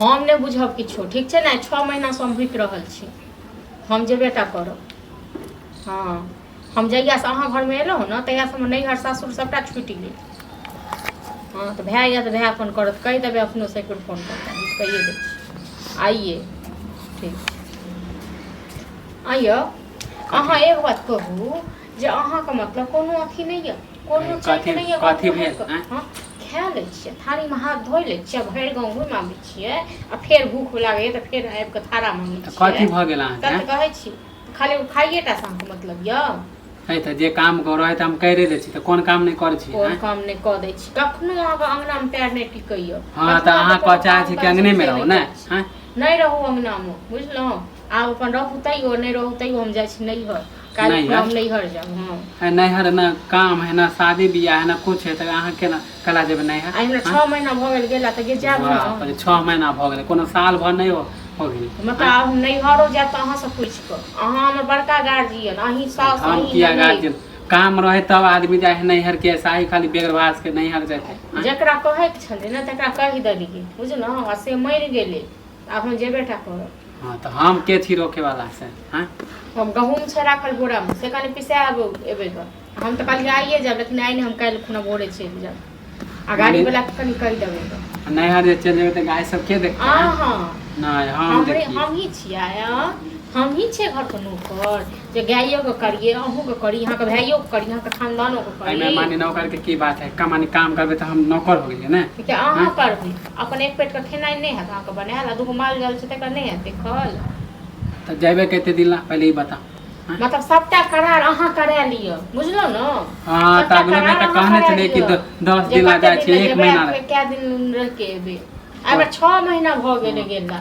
हम नहि बुझब किछो ठीक छै ने छओ महीनासँ हम भुकि रहल छी हम जेबे टा करब हँ हम जहियासँ अहाँ घरमे एलहुँ ने तहियासँ हमर नैहर सासुर सभटा छुटि गेल हँ तऽ भाय यऽ तऽ भाय फोन करत कहि देबै अपनो से कुल फोन करता बुझि कहिए दै छी आइए ठीक आइयो अहाँ एक बात कहू जे अहाँके मतलब कोनो अथी नहि यऽ कोनो चीज कथी- नहि एगो कथी भेल, भूख- आँय? हँ, खा लै छियै थारीमे हाथ धो लै छियै भरि गाँव घुमि आबै छियै आ फेर भूख लागैए तऽ फेर आबि कऽ थारा मङ्गै तऽ छियै कथी भऽ गेल तब तऽ अहाँके कहै छी खाली ओ खाइए टा से अहाँके मतलब यऽ है तऽ जे काम करो है तऽ हम करिए लै छी तऽ कोन काम नहि करै छी कोन आँय? काम नहि कऽ दै छी कखनो अहाँके अङ्गनामे पैर नहि टिकैए हँ तऽ अहाँ कह चाहै छी कि अङ्गनेमे रहू ने आँय? नहि रहू अङ्गनामे बुझलहुँ आब अपन रहू तैयो नहि रहू तैयो हम जाइ छी नैहर काल्हि नहि खुना हम हैत नैहर जायब हँ है नैहर ने काम है ने शादी बियाह है ने कुछ है तऽ अहाँ केना केना जेबै नैहर आइ हमरा आँय? छओ महीना भऽ गेल गेला तऽ गे जायब बाप रे, ने छह महीना भऽ गेलै कोनो साल भर नहि हो हो गेलै मतलब आँय? आब हम नैहरो जायब तऽ अहाँसँ पूछि कऽ अहाँ हमर बड़का गार्जियन अहीं साउस हम अहीं किया ननदि। गार्जियन काम रहे तब आदमी जाए है नैहर के ऐसा ही खाली बेगरवास के नैहर जाए है आँय? जकरा कहैके छलै ने तकरा कहि देलियै बुझलहुँ आ से मरि गेलै आब हम जेबे टा करब हाँ तो हम के छी रोके वाला से हाँ हम गहूँम छै राखल बोरामे से कनि पिसा आब एबै गऽ हम तऽ कहलियै आइए जायब लेकिन आइ नहि हम काल्हि खुना भोरे चलि जायब आ गाड़ीवलाके कनि कहि देबै गऽ नैहर जे चलि जेबै तऽ गाय सब के देखतै हाँ हाँ नहि हम हमरे देखियै हमही छियै हाँ हमही छियै घरके नौकर जे गाइयोके करियै अहूँके करी अहाँके भाइयोके करी अहाँके खानदानोके एहिमे करी माने नौकर के की बात है का माने काम करबै तऽ हम नौकर हो गेलियै ने कि अहाँ करबै अपन एक पेटके खेनाइ नहि हैत अहाँके बनायल आ दूगो माल जाल छै तकर नहि हैत देखल तऽ जेबे कते दिन ला पहिले ई बताउ मतलब सबटा करार अहाँ करा लिअ बुझलहुँ ने हाँ तऽ अगलो बेर तऽ कहने छलियै कि द- दस दिन ला जाइ छै एक महीना ला कए दिन रहिके एबै एहिमे छओ महीना भऽ गेलै गेला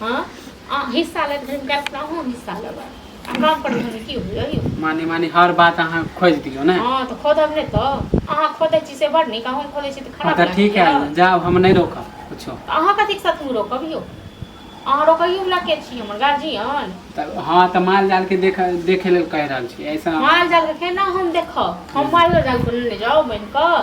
हँ अहाँ हिस्सा लैत घड़ी कए कऽ अहूँ हिस्सा लेबै हमरा पर घड़ी की होइए यौ माने माने हर बात अहाँ खोज दियौ ने हँ तऽ खोदब नहि तऽ अहाँ खोदै छी से बड़ नीक अहूँ खोदै छी तऽ खराब अच्छा ठीक है लागैए। जाओ हम नहीं रोका कुछो तऽ अहाँ कथीके सतमी रोकब यौ अहाँ रोकैयोवला के छी हमर गार्जियन तऽ हाँ तऽ माल जाल के देख देखे लेल कह रहल छी ऐसा माल जालके केना हम देखब हम मालो जालके लेने जाउ बनि कऽ